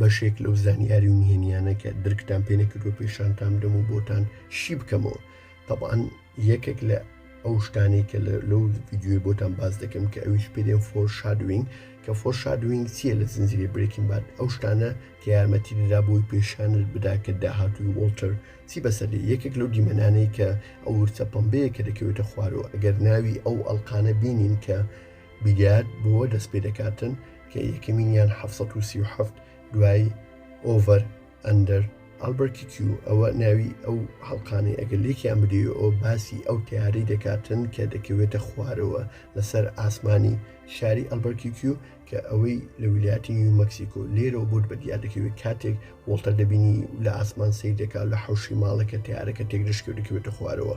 بەشێک لەو زانیاری و نهێنیانە کە درکتان پێ نەکردوە پێشانتان بدەم و بۆتان شی بکەمەوە تەبان یەکێک لە ئەو شتانی کە لەو ویددیوی بۆتان باز دەکەم کە ئەویش پێدێن فۆر شادوینگ کە فۆر شادوینگ چییە لە زنجری برێکین بات ئەو شتانە کە یارمەتی دەدا بۆی پێشانت بدا کە داهاتوی وڵتر چی بەسەر یەکێک لەو دیمەنانەی کە ئەو ورچە پمبەیە کە دەکەوێتە خوارەوە ئەگەر ناوی ئەو ئەلقانە بینین کە بیلیارد بۆ دەست پێدەکاتن کە یەکەمینیان حەفت سەد و سی و حەفت دوای ئۆڤەر ئەندەر ئەلبەرتی کیو ئەوە ناوی ئەو هەڵقانەی ئەگەر لێکیان بدەی ئەو باسی ئەو تیارەی دەکاتن کە دەکەوێتە خوارەوە لەسەر ئاسمانی شاری ئەلبەرتی کیو کە ئەوەی لە ویلایەتی نیو مەکسیکۆ لێرەوە بۆت بە دیار دەکەوێت کاتێک وڵتە دەبینی لە ئاسمان سیر دەکات لە حوشی ماڵەکە تیارەکە تێک دەشکێ دەکەوێتە خوارەوە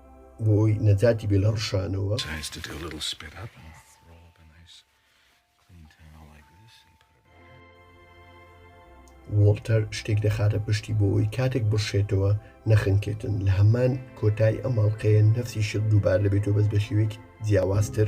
بۆی نەجاتی بێ لە ڕشانەوە. وۆڵتەر شتێک دەخاتە پشتی بۆەوەی کاتێک بڕشێتەوە نەخنکێتن لە هەمان کۆتای ئەماڵقەیە نەفسی شت دووبار دەبێتەوە بەس بە شێوێک جیاوازتر.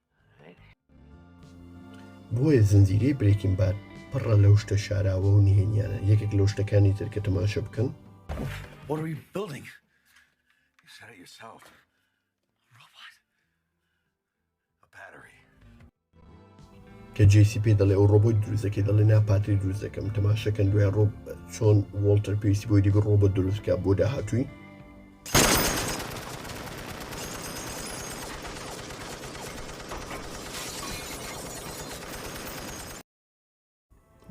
بۆیە زنجیرەی برێکین باد پڕە لەو شتە شاراوە و نهێنیانە یەکێک لەو شتەکانی تر کە تەماشە بکەن کە جیسی پێ دەڵێ ئەو ڕۆبۆت دروستەکەی دەڵێ ناپاتری دروست دەکەم تەماشەکەن دوای ڕۆب چۆن وڵتەر پێویستی بۆی دیگە ڕۆبە دروستکە بۆ داهاتووی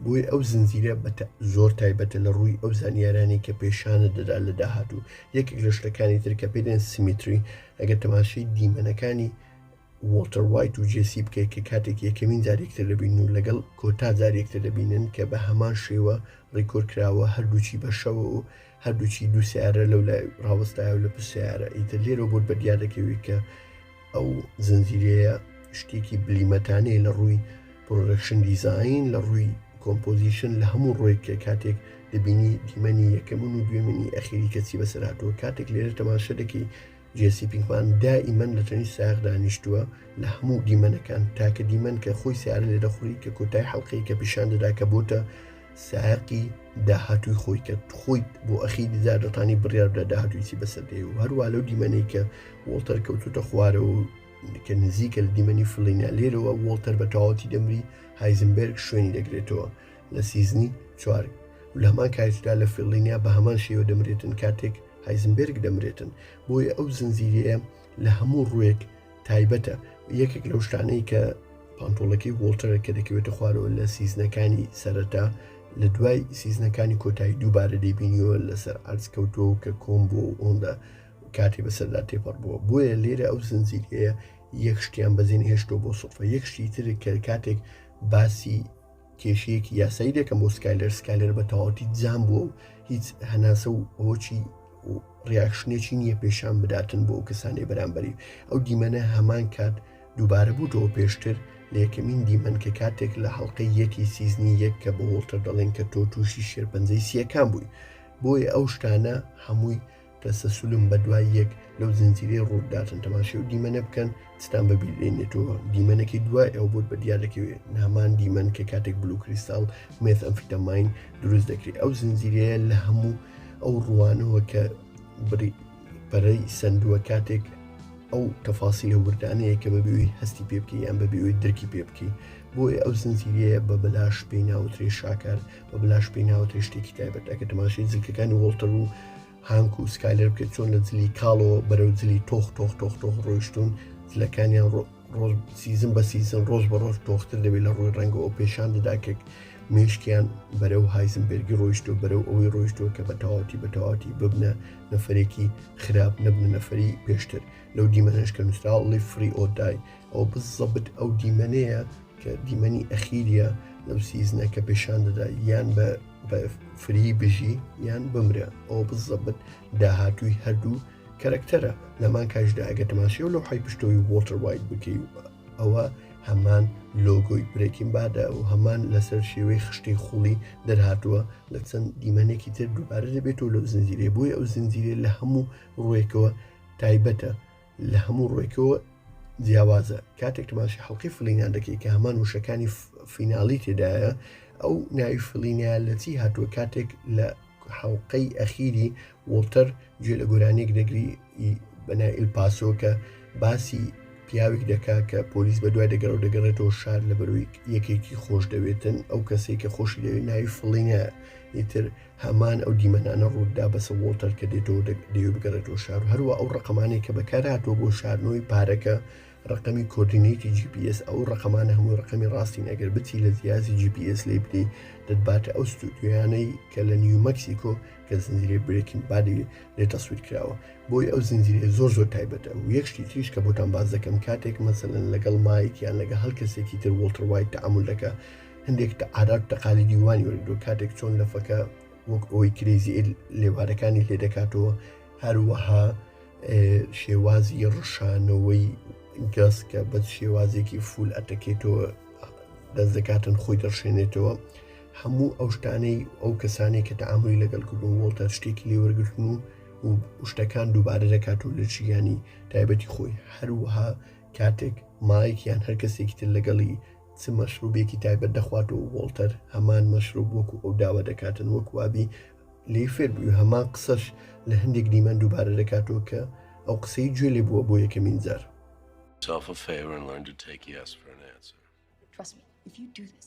بۆیە ئەو زنجیرە بەتە زۆر تایبەتە لە ڕووی ئەو زانیارانی کە پێشانە دەدا لە داهاتوو یەکێک لە شتەکانی تر کە پێدێن سیمیتری ئەگەر تەماشەی دیمەنەکانی وۆڵتەر وایت و جێسی بکەیت کە کاتێک یەکەمین جار یەکتر دەبینن و لەگەڵ کۆتا جار یەکتر دەبینن کە بە هەمان شێوە ڕیکۆر کراوە هەردووچی بە شەوە و هەردووچی دوو سیارە لەو لای ڕاوەستایە و لە پشت سیارە ئیتر لێرە بۆت بە دیار دەکەوێت کە ئەو زنجیرەیە شتێکی بلیمەتانەیە لە ڕووی پرۆدەکشن دیزین لە ڕووی کۆمپۆزیشن لە هەموو ڕۆیک کە کاتێک دەبینی دیمەنی یەکەمن و دوێمنی ئەخیری کەچی بەسەراتەوە کاتێک لێرە تەماشە دەکەی جێسی پینکمان دائیمەن لە تەنیشت سایەق دانیشتووە لە هەموو دیمەنەکان تاکە دیمەن کە خۆی سیارە لێ دەخوری کە کۆتای حەڵقەی کە پیشان دەدا کە بۆتە سایقی داهاتووی خۆی کە خۆیت بۆ ئەخی دیزار دەتانی بڕیار بدە داهاتویسی بەسەردەی و هەروە لەو دیمەنەی کە وڵتەر کەوتوتە خوارەوە کە نزیکە لە دیمەنی فلینیا لێرەوە وڵتەر بە تەواوەتی دەمری هایزنبرگ شوێنی دەگرێتەوە لە سیزنی چوار و لە هەمان کاتیشدا لە فیڵلینیا بە هەمان شێوە دەمرێتن کاتێک هایزنبێرگ دەمرێتن، بۆیە ئەو زنجیرەیە لە هەموو ڕووێک تایبەتە، یەکێک لەو شتانەی کە پانتۆڵەکەی وۆڵتەرە کە دەکەوێتە خوارەوە لە سیزنەکانی سەرەتا لە دوای سیزنەکانی کۆتایی دووبارە دەیبینیەوە لەسەر عەرز کەوتووە کە کۆم بۆ ئۆندە کاتی بەسەردا تێپەڕ بووە بۆیە لێرە ئەو زنجیرەیە یەک شتیان بەزین هێشتۆ بۆ سۆفە یەک شتی تر کە کاتێک باسی کێشەیەکی یاسایی دەکەم بۆ سکایلەر سکایلەر بە تەواوەتی جام بووە و هیچ هەناسە و هۆچی و ڕیاکشنێکی نییە پێشان بداتن بۆ ئەو کەسانی بەرامبەری ئەو دیمەنە هەمان کات دووبارە بووتەوە پێشتر لە یەکەمین دیمەن کە کاتێک لە هەڵلقەی یەکی سیزنی یەک کە بە وڵتەر دەڵێن کە تۆ تووشی شێرپەنجەی سیەکان بووی بۆیە ئەو شتانە هەمووی تەسەسولم بە دوای یەک لەو زنجیرەی ڕووداتن تەماشی و دیمەنە بکەن چتان بە بیرێنێتەوە دیمەنەکەی دوای ئەو بۆت بە دیار دەکەوێت نامان دیمەن کە کاتێک بلو کریستال مێت ئەمفیتەماین دروست دەکرێت ئەو زنجیرەیە لە هەموو ئەو ڕوانەوە کە بڕی پەرەی سندووە کاتێک ئەو تەفاسی لە وردانەیە کە بەبیوی هەستی پێ بکە یان بەبیوی درکی پێ بکەی بۆیە ئەو زنجیرەیە بە بەلاش پێی ناوترێ شاکار بە بلاش پێی ناوەتە شتێکی تایبەت ئەگە تەماشی جلکەکانی وڵتەر و هانک و سکالەر بکە چۆن لە جلی کاڵەوە بەرەو جلی تۆخ تۆخ تۆخ تۆخ ڕۆیشتون جلەکانیان ڕۆژ سیزم بە سیزن ڕۆژ بە ڕۆژ تۆختر دەبێت لە ڕووی ڕەنگەوە پێشان دەداکێک مێشکیان بەرەو هایزمبرگی ڕۆیشت و بەرەو ئەوەی ڕۆیشتووە کە بە تەواتی بە تەواتی ببنە نەفرێکی خراپ نەبنە نەفری پێشتر لەو دیمەنش کە نووسراوڵی فری ئۆدای ئەو بزەبت ئەو دیمەنەیە کە دیمەنی ئەخیریە لەو سیزنە کە پێشان دەدا یان بە فری بژی یان بمرە ئەو بزەبت داهاتووی هەردوو کەرەکتەرە لەمان کاژدا ئەگە تەماشێ و لەو حی پشتەوەی وۆتر وایت بکەی ئەوە هەمان لۆگۆی برێکین بادە و هەمان لەسەر شێوەی خشتەی خوڵی دەرهاتووە لە چەند دیمەنێکی تر دووبارە دەبێتەوە لەو زنجیرێ بۆی ئەو زنجیرێ لە هەموو ڕوێکەوە تایبەتە لە هەموو ڕۆیکەوە جیاوازە کاتێک تماشی حڵقی فلینان دەکەی کە هەمان وشەکانی فیناڵی تێدایە ئەو ناوی فلینە لە چی هاتووە کاتێک لە حڵلقەی ئەخیری وڵتەر گوێ لە گۆرانێک دەگری بەنائل پاسۆ کە باسی پیاوێک دەکا کە پۆلیس بە دوای دەگەڕ و دەگەڕێتەوە شار لە بەروی یەکێکی خۆش دەوێتن ئەو کەسێک کە خۆشی دەوێت ناوی فڵینە ئیتر هەمان ئەو دیمەنانە ڕووتدا بەسە وۆڵتەر کە دێتەوە دەیەوێت بگەڕێتەوە شار و هەروە ئەو ڕقەمانەی کە بەکارهاتووە بۆ شاردنەوەی پارەکە ڕقەمی کۆردینەیتی GPS ئەو ڕقەمانە هەموو ڕقەمی ڕاستین ئەگەر بچی لە جیازی GPS لی بدەی دەتباتە ئەو ستودیویانەی کە لە نیو مەکسیکۆ کە زنجیرە برێکین بادی لێ تەسویر کراوە بۆی ئەو زنجیرە زۆر زۆر تایبەتە و یەکشتی تریش کە بۆتان باز دەکەم کاتێک مەسەن لەگەڵ مایکیان لەگە هەڵ کەسێکی تر وڵتر وای تعامل دەکە هەندێک تە عادات تەقالیدی وانی وەرگرتووە کاتێک چۆن لەفەکە وەک ئەوەی کرێزی لێوارەکانی لێ دەکاتەوە هەروەها شێوازی ڕشانەوەی گەس کە بە شێوازێکی فول ئەتەکێتەوە دەست دەکاتن خۆی دەڕشێنێتەوە هەموو ئەو شتانەی ئەو کەسانی کە تەعاملی لەگەڵ کردو وڵتە شتێکی لێوەرگتن و و شتەکان دووبارە دەکات و لە ژیانی تایبەتی خۆی هەروەها کاتێک مایەک یان هەر کەسێکی تر لەگەڵی چ مەشروبێکی تایبەت دەخوات و وۆڵتەر هەمان مەشروب وەکو ئەو داوا دەکاتن وەک وابی لی فێر بووی هەمان قسەش لە هەندێک دیمەن دووبارە دەکاتەوە کە ئەو قسەی گوێ لێ بووە بۆ یەکەمین جار. Yourself a favor and learn to take yes for an answer. Trust me, if you do this.